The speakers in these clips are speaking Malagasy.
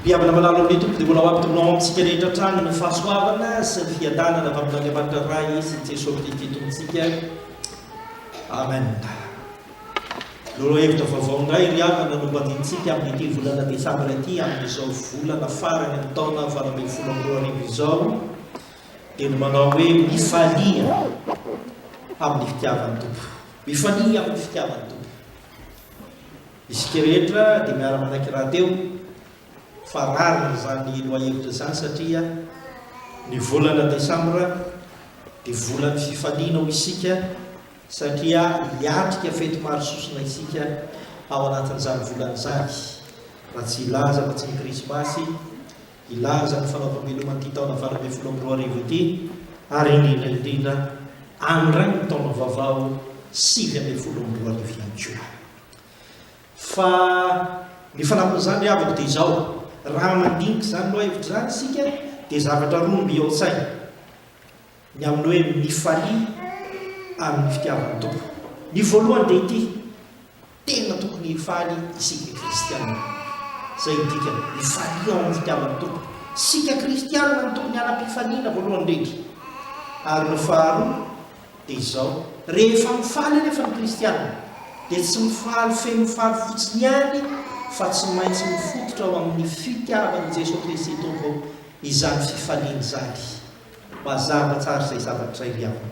Mihabana manalo amin'ny Tompo dia mbola ho ampitony ao amintsika rehetra hatrany ny fahasoavana sy ny fiadanana avy amin'Andriamanitra Ray sy ny Jesoa Kristy Tompontsika. Amen. Lolo-hevitra vaovao indray ry havana no mbadinintsika amin'ity volana desambra ity amin'izao volana farany amin'ny taona valo ambin'ny folo amby roa arivo izao dia ny manao hoe mifalia amin'ny fitiavan'ny Tompo. Mifalia amin'ny fitiavan'ny Tompo. Isika rehetra dia miara-manaiky rahateo fa rariny izany lohahevitra izany satria ny volana desambra dia volan'ny fifaliana ho isika satria hiatrika fety maro sosona isika ao anatin'izany volana izany raha tsy hilaza fa tsy ny krismasy hilaza ny fanaovam-beloman'ity taona valo ambin'ny folo amby roa arivo ity ary indrindra indrindra andrany ny taona vaovao sivy ambin'ny folo amby roa arivo ihany koa. Fa ny fanampin'izany ry havako dia izao, raha mandinika izany lohahevitra izany isika dia zavatra roa no mby ao an-tsaina, ny amin'ny hoe mifalia ary ny fitiavan'ny Tompo. Ny voalohany dia ity, tena tokony hifaly isika kristiana. Izay no dikany, mifalia ao amin'ny fitiavan'ny Tompo. Isika kristiana no tokony hanam-pifaliana voalohany indrindra. Ary ny faharoa, dia izao, rehefa mifaly anefa ny kristiana dia tsy mifaly feno faly fotsiny ihany fa tsy maintsy mifototra ao amin'ny fitiavan'i Jesoa Kristy Tompo izany fifaliana izany. Mazava tsara izay zavatra izay ry havana.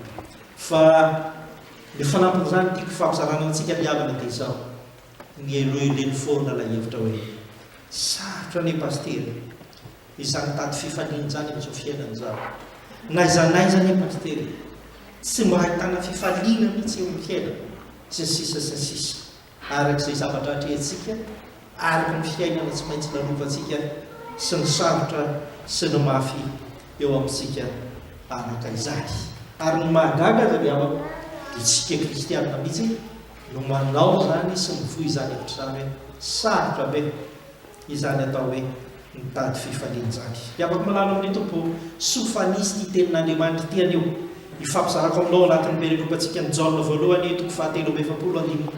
Fa ny fanampin'izany tiako fampizarana amintsika ry havana dia izao, ny heloheloin'ny foana ilay hevitra hoe, sarotra anie Pasitera e! Izany tady fifaliana izany amin'izao fiainana izany. N'aiza n'aiza anie Pasitera e! Tsy mba ahitana fifaliana mihitsy eo amin'ny fiainana, sy ny sisa sy ny sisa. Araka izay zavatra atrehintsika, araka ny fiainana tsy maintsy lalovantsika sy ny sarotra sy ny mafy eo amintsika araka izany. Ary ny mahagaga aza ry havako dia isika kristiana mihitsy no manao izany sy mivoy izany hevitra izany hoe sarotra be. Izany atao hoe mitady fifaliana izany. Dia afaka milalao amin'ny Tompo sofanisy ity Tenin'Andriamanitra ity anio. Ifampizarako aminao ao anatin'ny perekopantsika ny Jaona voalohany toko fahatelo amby efapolo andininy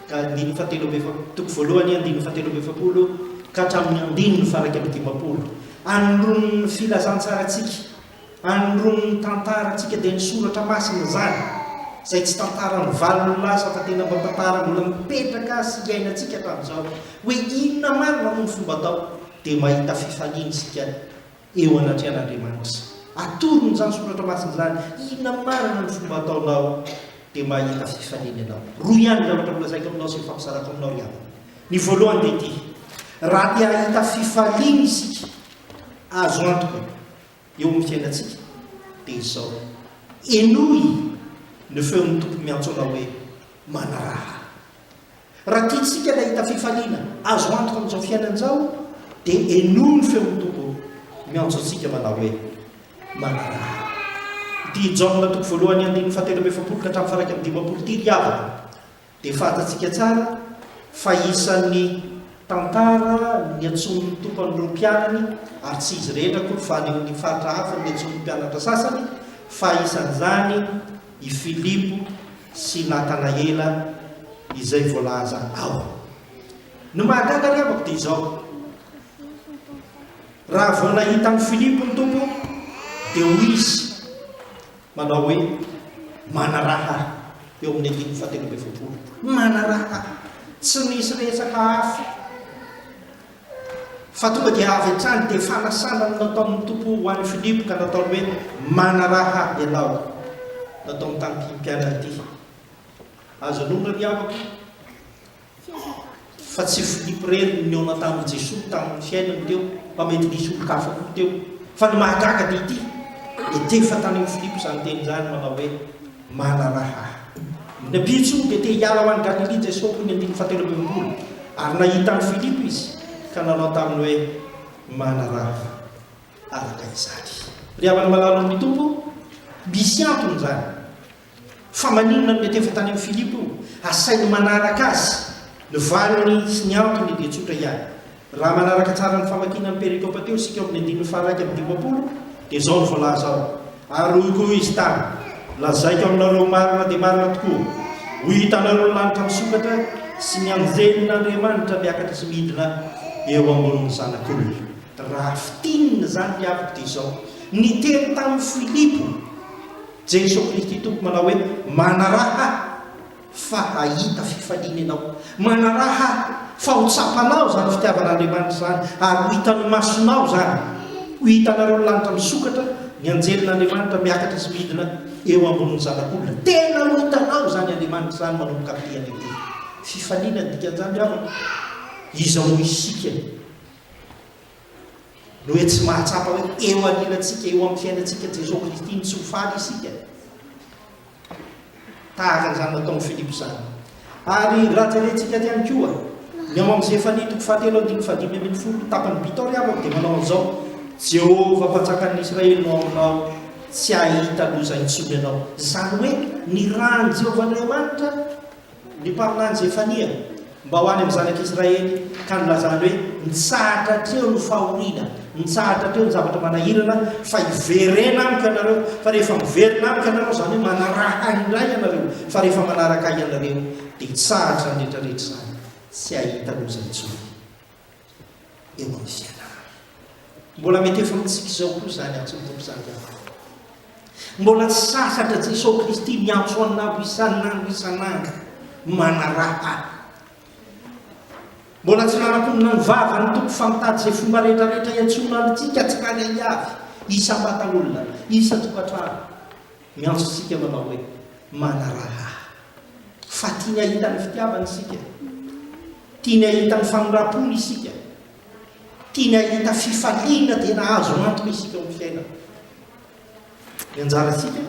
ka andininy fahatelo amby efa toko voalohany andininy fahatelo amby efapolo ka hatramin'ny andininy faha iraika amby dimampolo. Anon'ny filazantsarantsika. Anondron'ny tantarantsika dia ny Soratra Masina izany, izay tsy tantara mivalona lasa fa tena mba tantara mbola mipetraka sy iainantsika hatramin'izao. Hoe inona marina moa ny fomba atao dia mahita fifaliana isika eo anatrehan'Andriamanitra. Atorony izany Soratra Masina izany, inona marina ny fomba ataonao dia mahita fifaliana ianao. Roa ihany ny zavatra nolazaiko aminao sy nifampizarako aminao ry havana. Ny voalohany dia ity, raha te hahita fifaliana isika, azo antoka eo amin'ny fiainantsika dia izao, henoy ny feon'ny Tompo miantso anao hoe, Manaraha Ahy. Raha tiantsika ny hahita fifaliana azo antoka amin'izao fiainana izao dia henoy ny feon'ny Tompo miantso antsika manao hoe, Manaraha Ahy. Ity Jaona toko voalohany andininy fahatelo amby efapolo ka hatramin'ny faha iraika amby dimampolo ity ry havana Dia fantatsika tsara fa isan'ny tantara niantsoan'ny Tompo an'ireo mpianany, ary tsy izy rehetra akory fa any amin'ny faritra hafa no niantsoan'ny mpianatra sasany, fa isan'izany i Filipo sy Natanaela izay voalaza ao. Ny mahagaga ny amako dia izao, raha vao nahita an'i Filipo ny Tompo dia hoy izy, Manao hoe, Manaraha eo amin'ny andininy fahatelo amby efapolo. Manaraha. Tsy misy resaka hafa fa tonga dia avy hatrany dia fanasana no nataon'ny Tompo ho an'i Filipo ka nataony hoe, Manaraha ianao. Nataony tamin'ity mpianatr'ity. Azo anonona ry havako. Fa tsy Filipo irery no nihaona tamin'i Jesoa tamin'ny fiainany teo, fa mety nisy olon-kafa koa teo. Fa ny mahagaga dia ity, nitefa tany amin'i Filipo izany teny izany manao hoe, Manaraha Ahy. Ny mpitso dia te hiala ho any Galilia Jesoa hoy ny andininy fahatelo amby enimpolo, ary nahita an'i Filipo Izy, ka nanao taminy hoe, Manaraha Ahy araka izany. Ry havana malalo amin'ny Tompo, misy antony izany. Fa maninona no mety efa tany amin'i Filipo io? Asainy manaraka azy. Ny valiny sy ny antony dia tsotra ihany. Raha manaraka tsara ny famakiana ny perikopa teo isika ao amin'ny andininy faha-iraika amby dimampolo, dia izao no voalaza ao, Ary hoy koa Izy tamy, Lazaiko aminareo marina dia marina tokoa, Ho hitanareo ny lanitra misokatra sy ny anjelin'Andriamanitra miakatra sy midina eo ambonin'ny Zanak'olona. Raha fintinina izany ry havako dia izao, Niteny tamin'i Filipo. Jeso Kristy Tompo manao hoe, Manaraha ahy fa hahita fifaliana ianao. Manaraha ahy fa ho tsapanao izany fitiavan'Andriamanitra izany ary ho hitan'ny masonao izany. Ho hitanareo ny lanitra misokatra, ny anjelin'Andriamanitra miakatra sy midina eo ambonin'ny Zanak'olona. Tena ho hitanao izany Andriamanitra izany manomboka amin'ny dia lehibe. Fifaliana ny dikan'izany ry havana. Iza moa isika? Noho tsy mahatsapa hoe eo anilantsika, eo amin'ny fiainantsika Jesoa Kristy no tsy ho faly isika. Tahaka an'izany nataon'i Filipo izany. Ary raha jerentsika aty ihany koa, ny ao amin'ny Zefania toko fahatelo andininy fahadimy ambin'ny folo, tapan'ny Bitor Yavov dia manao an'izao, Jehovah mpanjakan'ny Israely no ao aminao, tsy hahita loza intsony ianao. Izany hoe ny ràn'i Jehovah Andriamanitra Ny mpaminany Zefania mba ho any amin'ny zanak'Israely ka nilazany hoe, Mitsahatra hatreo ny fahoriana, mitsahatra hatreo ny zavatra manahirana, fa hiverena amiko ianareo, fa rehefa miverina amiko ianareo, izany hoe manaraha ahy indray ianareo, fa rehefa manaraka ahy ianareo, dia hitsahatra ny rehetra rehetra izany, tsy hahita loza intsony. eo amin'ny fianarana. Mbola mety efa amintsika izao koa izany antsoin'ny Tompo izany ianao. Mbola tsy sasatra Jesosy Kristy miantso anao isan'andro isan'andro manaraka. Mbola tsy nanakonina ny vavany ny Tompo fa mitady izay fomba rehetra rehetra hiantsoana antsika tsy kany ahiavy, isan-batan'olona, isan-tokantrano. Miantso antsika manao hoe, Manaraha Ahy. Fa tiany hahita ny fitiavany isika. Tiany hahita ny famindram-pony isika. Tiany hahita fifaliana tena azo antoka isika amin'ny fiainana. Ny anjarantsika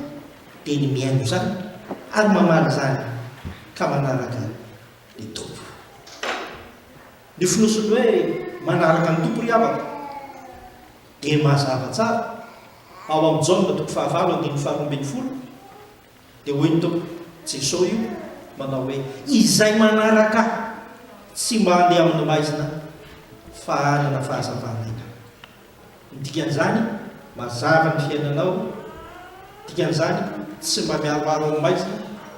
dia ny mihaino izany ary mamaly izany ka manaraka ny Tompo. Ny fonosin'ny hoe manaraka ny Tompo ry havako. Dia mazava tsara ao amin'ny Jaona toko fahavalo andininy faharoa ambin'ny folo dia hoy ny Tompo, Jesoa io, manao hoe, Izay manaraka Ahy tsy mba handeha amin'ny maizina fa hanana fahazavan'aina. Ny dikan'izany, mazava ny fiainanao, Dikan'izany, tsy mba mihariharo amin'ny maizina,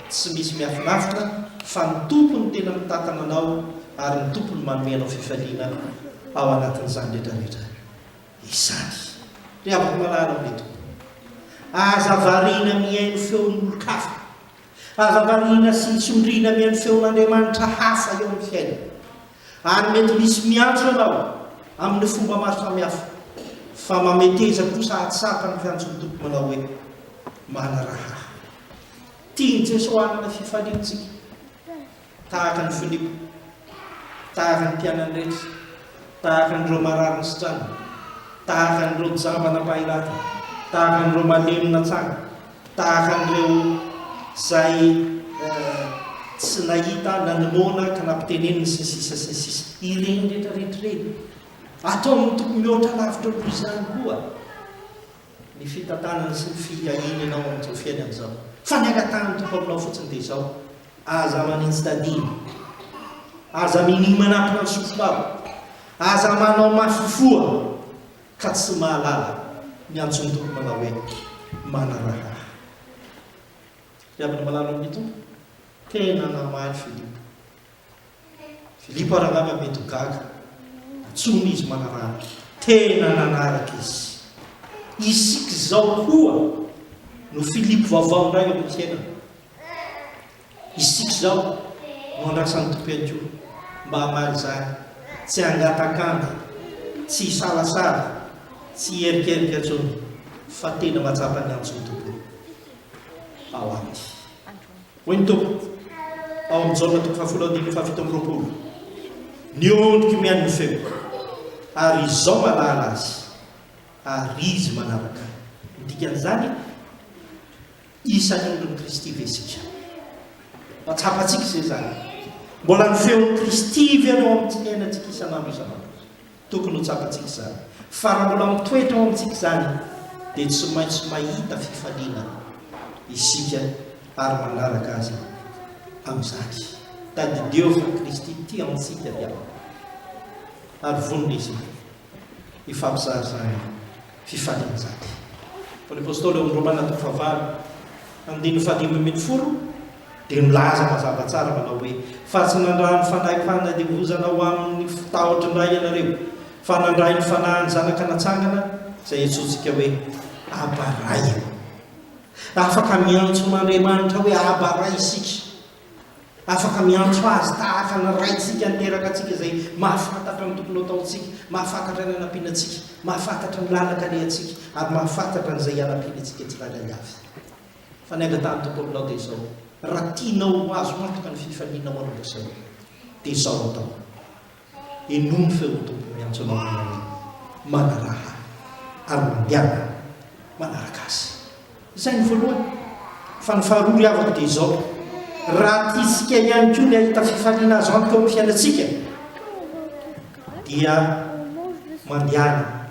tsy misy miafinaritra, fa ny Tompo no tena mitantana anao ary ny Tompo no manome anao fifaliana ao anatin'izany rehetrarehetra izany. Ry havako malala amin'ny Tompo, aza variana mihaino feon'olon-kafa, aza variana sy tsindriana mihaino feon'andriamanitra hafa eo amin'ny fiainana. Ary mety misy miantso ianao amin'ny fomba maro samihafa, fa mameteza kosa hahatsapa ny fiantson'ny Tompo manao hoe, Manaraha Ahy. Tian'i Jeso hanana fifaliana isika, tahaka an'i Filipo, tahaka ny mpianany rehetra, tahaka an'ireo marary nisitrana, tahaka an'ireo jamba nampahiratra, tahaka an'ireo malemy natsanga. Tahaka an'ireo izay tsy nahita na ny noana ka nampiteneniny sy ny sisa sy ny sisa. Ireny rehetra rehetra ireny. Atao amin'ny toko mihoatra lavitra noho izany koa ny fitantanana sy ny fiahianao amin'izao fiainana izao. Fa ny angatahan'ny Tompo aminao fotsiny dia izao, aza manitsy tadiny, aza minia manampina ny sofina ao, aza manao mafy foana. ka tsy mahalala ny antson'ny Tompo manao hoe, Manaraha Ahy. Ry havana malala amin'ny Tompo, tena namaly Filipo. Filipo ary angamba mety ho gaga, nantsoina izy manaraha Ahy. Tena nanaraka Izy. Isika izao koa no Filipo vaovao indray eo amin'ny fiainana. Isika izao no andrasan'ny Tompo ihany koa mba hamaly izany, tsy hangatak'andro, tsy hisalasala, tsy hiherikerika intsony fa tena mahatsapa ny antson'ny Tompo ao aminy. Hoy ny Tompo ao amin'ny Jaona toko fahafolo andininy fahafito amby roapolo, ny ondriko mihaino ny feoko ary izao mahalala azy ary izy manaraka ahy. Ny dikan'izany? Isan'ny ondrin'i Kristy ve isika? Mba tsapantsika izay izany. Mbola ny feon'i Kristy ve no ao amin'ny fiainantsika isan'andro isan'andro? Tokony ho tsapantsika izany. Fa raha mbola mitoetra ao amintsika izany, dia tsy maintsy mahita fifaliana isika ary manaraka Azy amin'izany. Tadidio fa Kristy tia antsika ry havana, ary vonona izany. Ifampizahazahana, fifalian-jady. Paoly Apostoly ao amin'ny Romana toko fahavalo, andininy fahadimy ambin'ny folo dia milaza mazava tsara manao hoe, Fa tsy nandraha ny fanahy fanadihozana ho amin'ny tahotry ny ray ianareo, fa nandray ny fanahin'ny Zanaka natsangana, izay iantsoantsika hoe, Aba, Ray. Afaka miantso an'Andriamanitra hoe Aba, Ray isika. Afaka miantso Azy tahaka ny Raintsika niteraka antsika izay mahafantatra ny tokony hataontsika, mahafantatra ny hanampiana antsika, mahafantatra ny lalaka alehantsika, ary mahafantatra an'izay hianampiana antsika tsirairay avy. Fa ny angatahan'ny Tompo aminao dia izao, Raha tianao ho azo antoka ny fifalianao, ry ry zareo, dia izao atao. Henoy ny feon'ny Tompo miantso anao hanao hoe, Manaraha Ahy, ary mandehana manaraka Azy. Izay ny voalohany. Fa ny faharoa ry havako dia izao, raha tiantsika ihany koa ny hahita fifaliana azo antoka eo amin'ny fiainantsika, dia mandehana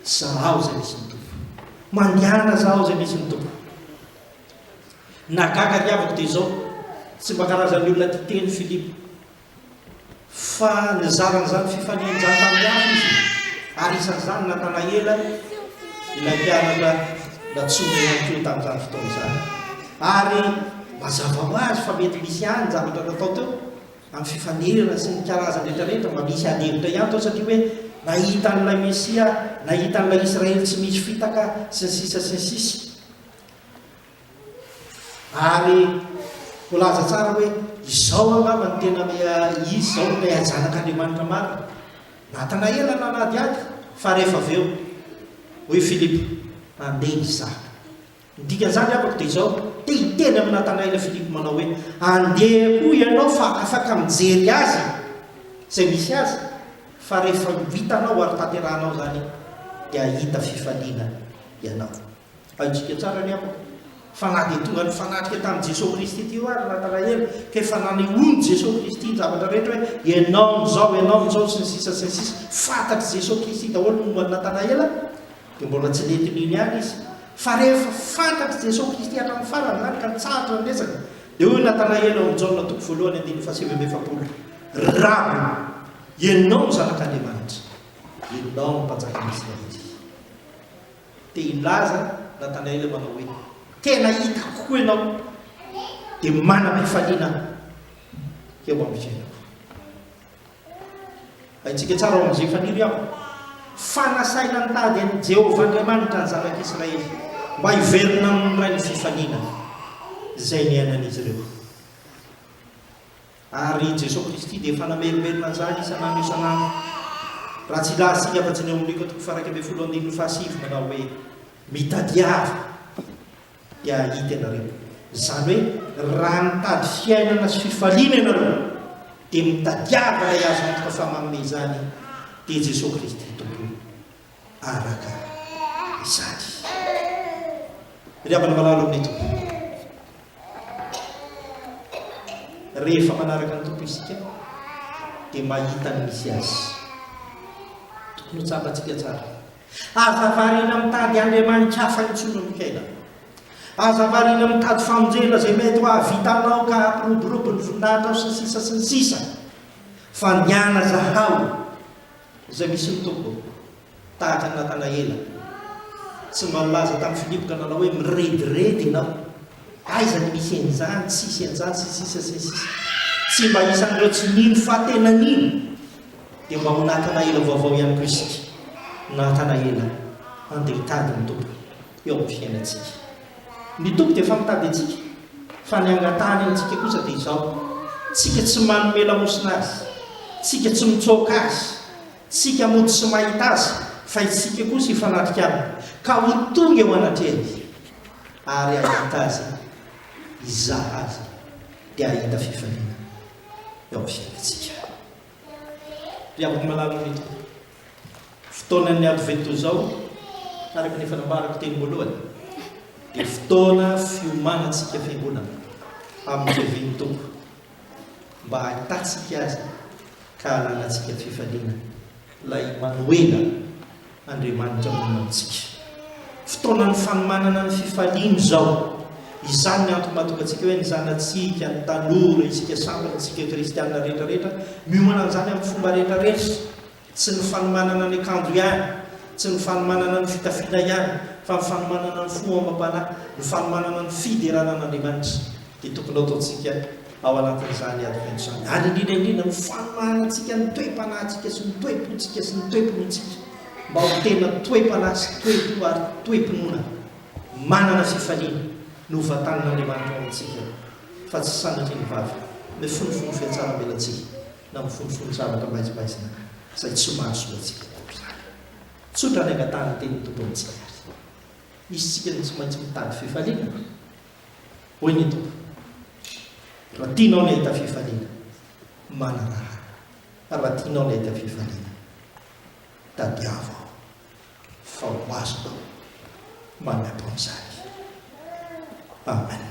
zahaho izay misy ny Tompo. Mandehana zahaho izay misy ny Tompo. Nagaga ry havako dia izao, tsy mba karazan'ny olona tia teny Filipo. fa nizara an'izany fifalian-draha tamin'ny hafa izy, ary isan'izany Natanaela, ilay mpianatra natsoina ihany koa tamin'izany fotoana izany. Ary mazava ho azy fa mety misy ihany ny zavatra natao teo, amin'ny fifanerana sy ny karazany rehetrarehetra, mba misy ady hevitra ihany teo, satria hoe nahita an'ilay Mesia, nahita an'ilay Israely tsy misy fitaka, sy ny sisa sy ny sisa. Ary milaza tsara hoe izao angamba no tena Izy izao no ilay Zanak'Andriamanitra marina. Natanaela no nanadihady, fa rehefa avy eo, hoy Filipo, Handeha izaho. Ny dikan'izany amiko dia izao, te hiteny amin'i Natanaela Filipo manao hoe, Andeha koa ianao fa afaka mijery azy izay misy azy, fa rehefa ho hitanao ary tanterahanao izany dia hahita fifaliana ianao. Haintsika tsara ny havako fa na dia tonga nifanatrika tamin'i Jesoa Kristy ity hoa ry Nathanaela ka efa nanehoan'i Jesoa Kristy ny zavatra rehetra hoe ianao no zao, ianao no zao sy ny sisa sy ny sisa, fantatr'i Jesoa Kristy daholo ny momba an'i Nathanaela dia mbola tsy nentiny iny ihany izy fa rehefa fantatr'i Jesoa Kristy hatramin'ny farany izany ka nitsahatra ny resaka dia hoy Nathanaela ao amin'ny Jaona toko voalohany andininy fahasivy amby efapolo Raby, ianao no zanak'Andriamanitra, ianao no mpanjakan'Israely. Dia hilaza Natanaela eo manao hoe, Tena hitako koa ianao, dia manam-pifaliana eo amin'ny fiainako. Haintsika tsara ao amin'izay faniry aho fa nasaina nitady an'i Jehovah Andriamanitra ny zanak'Israely mba hiverina amin'ny Ray ny fifaliana izay niainan'izy ireo. Ary i Jesoa Kristy dia efa namerimberina an'izany isan'andro isan'andro. Raha tsy hilaza isika afa-tsy ny ao amin'ny Luka toko faha-iraika ambin'ny folo andininy fahasivy manao hoe, Mitadiava, dia hahita ianareo. Izany hoe, raha mitady fiainana sy fifaliana ianareo, dia mitadiava ilay azo antoka fa manome izany, dia Jesoa Kristy Tompo. araka izany. Ry havana malala amin'ny Tompo, rehefa manaraka ny Tompo isika dia mahita ny misy azy. Tokony ho tsapantsika tsara. Aza variana mitady andriamanitra hafa intsony amin'ny fiainana. Aza variana mitady famonjena izay mety ho hahavitanao ka hampiroborobo ny voninahitrao sy ny sisa sy ny sisa. Fa nianazahao Izay misy ny Tompo, tahaka ny Natanaela, tsy mba nilaza tamin'i Filipo ka nanao hoe, Mirediredy ianao, aiza no misy an'izany, tsy hisy an'izany, sy ny sisa, sy ny sisa. Tsy mba isan'ireo tsy nino fa tena nino, dia mba ho Natanaela vaovao ihany koa isika, Natanaela, andeha hitady ny Tompo. eo amin'ny fiainantsika. Ny Tompo dia efa mitady antsika, fa ny angatahany amintsika kosa dia izao, tsika tsy manome lamosina Azy, tsika tsy mitsoaka Azy, tsika mody tsy mahita Azy, fa isika kosa hifanatrika Aminy, ka ho tonga eo anatrehany, ary hahita Azy, hizaha Azy, dia hahita fifaliana eo amin'ny fiainantsika. Ry havako malala amin'ny Tompo. Fotoanan'ny Advento izao, araka ny efa nambarako teny voalohany, dia fotoana fiomanantsika fiangonana amin'ny fiavian'ny Tompo, mba hahitantsika Azy ka hahalanantsika fifaliana, ilay Imanoela, Andriamanitra monina amintsika. Fotoanan'ny fanomanana ny fifaliana izao. Izany ny antony mahatonga antsika hoe ny zanatsika, ny tanora, isika samy, isika kristiana rehetrarehetra, miomana an'izany amin'ny fomba rehetrarehetra. Tsy ny fanomanana ny akanjo ihany, tsy ny fanomanana ny fitafiana ihany, fa ny fanomanana ny fo amam-panahy, ny fanomanana ny fiderana an'Andriamanitra dia tokony hataontsika ao anatin'izany ady feno izany. Ary indrindra indrindra, ny fanomanantsika ny toe-panahintsika sy ny toe-pontsika sy ny toe-pinoantsika mba ho tena toe-panahy sy toe-po ary toe-pinoana manana fifaliana ny hovantanin'Andriamanitra ao amintsika fa tsy sanatria ny vava mifonofono fihatsaram-belatsihy. na mifonofono zavatra maizimaizina ka, izay tsy mahasoa antsika tokoa izany. Tsotra ny angataha ny tenin'ny Tompo amintsika ary misy isika no tsy maintsy mitady fifaliana. Hoy ny Tompo, Raha tianao ny hahita fifaliana, manaraha Ahy. Raha tianao ny hahita fifaliana, tadiavo Aho, fa ho azonao manampo amin'izany. Amen.